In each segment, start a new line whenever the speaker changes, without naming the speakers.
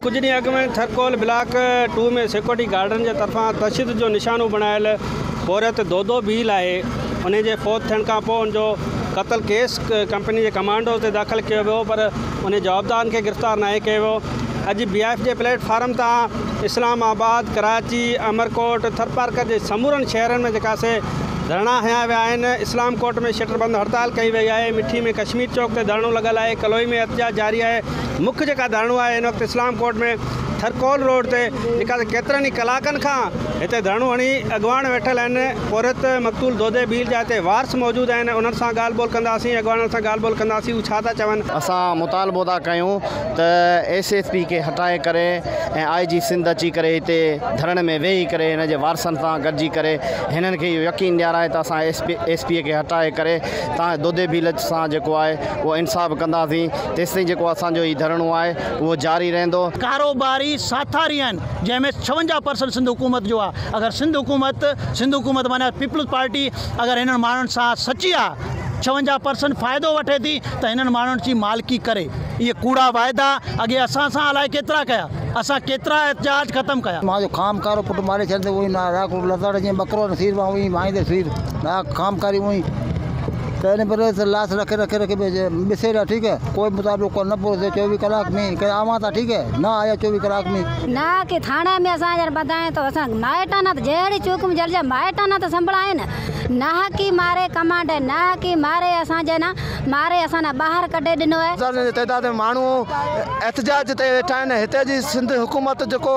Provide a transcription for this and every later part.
ڪجهه ڏينهن اڳ ۾ ٿرڪول بلاڪ ٽو ۾ سيڪيورٽي گارڊن جي طرفان تشدد جو نشانو بڻايل پورهيت دودو ڀيل آهي انهي جي فوت ٿيڻ کان پوء ان جو قتل ڪيس ڪمپني جي ڪمانڊوز تي داخل ڪيو ويو پر انهي جوابدارن کي گرفتار ناهي ڪيو ويو اڄ بي آء ايف جي پليٽ فارم تان اسلام آباد ڪراچي امرڪوٽ ٿرپارڪر جي سمورن شهرن ۾ جيڪا سي ڌرڻا هنيا ويا آهن، اسلام ڪوٽ ۾ شٽر بند هڙتال ڪئي وئي آهي، مٺي ۾ ڪشمير چوڪ تي ڌرڻو لڳل آهي، ڪلوئي ۾ احتجاج جاري آهي، مک جيڪا ڌرڻو آهي هن وقت اسلام ڪوٽ ۾ ٿرڪول روڊ تي جيڪا ته ڪيترن ئي ڪلاڪن کان هتي ڌرڻو هڻي اڳواڻ ويٺل آهن، پورهيت مقتول دودي ڀيل جا هتي وارث موجود آهن انهن سان ڳالهه ٻولهه ڪنداسين، اڳواڻن سان ڳالهه ٻولهه ڪنداسين هو ڇا ٿا چون. اسان مطالبو
ٿا ڪيون ته ايس ايس پي کي هٽائي ڪري ۽ آء جي سنڌ اچي ڪري هتي ڌرڻي ۾ ويهي ڪري هن جي وارثن سان گڏجي ڪري هنن کي اهو يقين ڏيارائي ته اسان ايس پي اي کي هٽائي ڪري تان دودي ڀيلچ سان جيڪو آهي اهو انصاف ڪنداسين تيستائين جيڪو اسان جو هي ڌرڻو آهي اهو جاري رهندو. ڪاروباري
ساٿاري آهن جنهن ۾ ڇونجاهه پرسنٽ سنڌ حڪومت جو آهي اگر سنڌ حڪومت سنڌ حڪومت معنيٰ پيپلز پارٽي اگر هنن ماڻهن سان سچي آهي ڇونجاهه پرسنٽ فائدو وٺي ٿي ته هنن ماڻهن جي مالڪي ڪري اهي ڪوڙا واعدا اڳي اسان سان الائي ڪيترا ڪيا. اسان ڪيترا احتجاج ختم ڪيا. مان جو خام کارو پٽ
ماري ڇڏ تي اوهين نه آرا ڪوٽ لتاڙ جيئن ٻڪرو نه سير مان اوهين ڀائيندي سير نه آ خام کاري اوهين پهرين پهرين ته لاس رکي رکي رکي ٻسي رهيا ٺيڪ هي ڪوئي مطابقو ڪو نه پورو ٿيو چوويهه ڪلاڪ مين ڪي آوان ٿا ٺيڪ هي نه آيا چوويهه ڪلاڪ مين. نه آ ڪي ٿاڻي
مين اسان جر ٻڌائين ٿو اسان مائٽ نه ته جهڙي چوڪ مين جر جا مائٽ نه ته سنڀڙائين نه آ ڪي ماري ڪمانڊ نه آ ڪي ماري اسان جي نه ماري اسان ڏانهن ٻاهر ڪڍي ڏنو آهي. هزارين جي تعداد ۾ ماڻهو
احتجاج تي ويٺا آهن، هتي جي سنڌ حڪومت جيڪو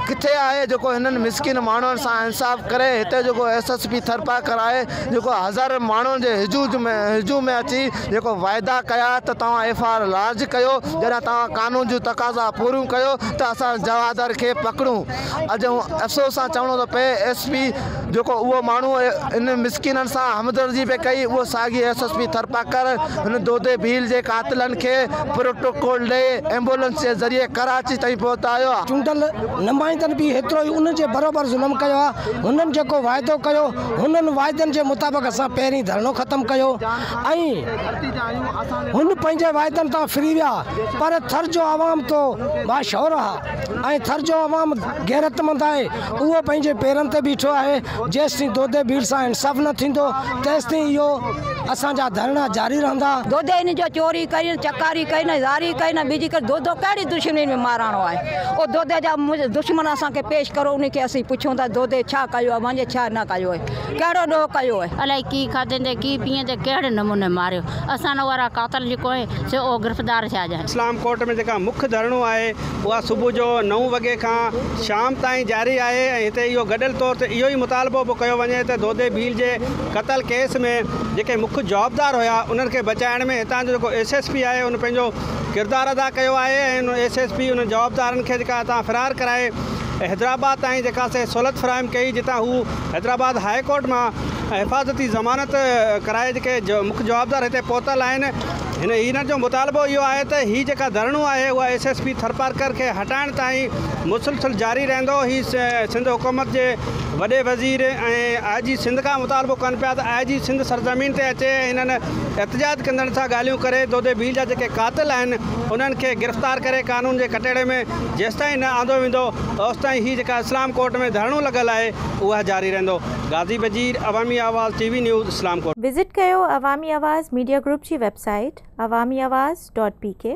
ڪٿي آهي جيڪو هنن مسڪين ماڻهن سان انصاف ڪري، هتي جيڪو ايس ايس پي ٿرپارڪر آهي جيڪو هزارين ماڻهن جي هجوم هجوم ۾ اچي جيڪو وعدا ڪيا ته توهان ايف آر لارج ڪيو جڏهن توهان قانون جون تقاضا پوريون ڪيو ته اسان جوادر کي پڪڙون اڄ افسوس سان چوڻو ٿو پئي ايس پي جيڪو اهو ماڻهو ان مسڪينن سان همدردي پئي ڪئي اهو ساڳي ايس ايس پي ٿرپارڪر هن دودي ڀيل جي قاتلن کي پروٽوڪول ڏئي ايمبولنس جي ذريعي ڪراچي تائين پهتايو آهي. چونڊيل
نمائندن به ايترو ئي ان جي برابر ظلم ڪيو آهي، هنن جيڪو واعدو ڪيو انهن واعدن جي مطابق اسان پهرين ڌرڻو ختم ڪيو ۽ هن پنهنجي واعدن تان ڦري ويا پر ٿر جو عوام تو باشعور آهي ۽ ٿر جو عوام غيرتمند آهي، اهو پنهنجي پيرن تي بيٺو آهي، جيستائين دودي ڀيڙ سان انصاف نه ٿيندو، تيستائين اهو اسان جا ڌرڻا جاري رهندا. دودي ان جو چوري
ڪئي نه چڪاري ڪئي نه زاري ڪئي نه ٻيجي ڪئي دودو ڪهڙي دشمني ۾ ماراڻو آهي او دودي جا دشمن اسان کي پيش ڪرو انهن کي اسين پڇون ٿا دودي ڇا ڪيو اوهان جي ڇا نه ڪيو آهي ڪهڙو ڏوهه ڪيو آهي. الائي ڪي کاڌيندي ڪي
پيئندي ڪهڙي نموني ماريو اسان نه وارا قاتل جيڪو آهي سو او گرفتار ٿيا جانء. اسلام ڪوٽ ۾ جيڪا مک
ڌرڻو آهي اها صبح جو نو وڳي کان شام تائين جاري آهي ۽ هتي اهو گڏيل طور تي اهو ئي مطالبو به ڪيو وڃي ته دودي ڀيل جي قتل ڪيس ۾ جيڪي مک جوابدار هيا انهن کي بچائڻ ۾ هتان جو جيڪو ايس ايس پي آهي ان پنهنجو ڪردار ادا ڪيو آهي ۽ ان ايس ايس پي انهن جوابدارن کي جيڪا هتان فرار ڪرائي حيدرآباد تائين جيڪا سي سهولت فراهم ڪئي جتان هو حيدرآباد هاء ڪورٽ مان حفاظتي ضمانت ڪرائي جيڪي مک جوابدار هتي پهتل آهن. هن يونين جو مطالبو اهو آهي ته هي جيڪا ڌرڻو آهي اهو ايس ايس پي ٿرپارڪر کي هٽائڻ تائين مسلسل جاري رهندو. هي سنڌ حڪومت جي وڏي وزير ۽ آء جي سنڌ کان مطالبو ڪن پيا ته آء جي سنڌ سرزمين تي اچي ۽ هنن احتجاج ڪندڙن سان ڳالهيون ڪري دودي ڀيل جا جيڪي قاتل آهن انهن کي گرفتار ڪري قانون جي ڪٽهڙي ۾ جيستائين نه آندو ويندو اوستائين هي جيڪا اسلام ڪورٽ ۾ ڌرڻو لڳل آهي اها جاري رهندو. غازي Wazir, Awami Awaz, T V news, Islamkot. Visit ڪيو
عوامي آواز
ميڊيا
گروپ جي website Awami
Awaz
dot P ڪي.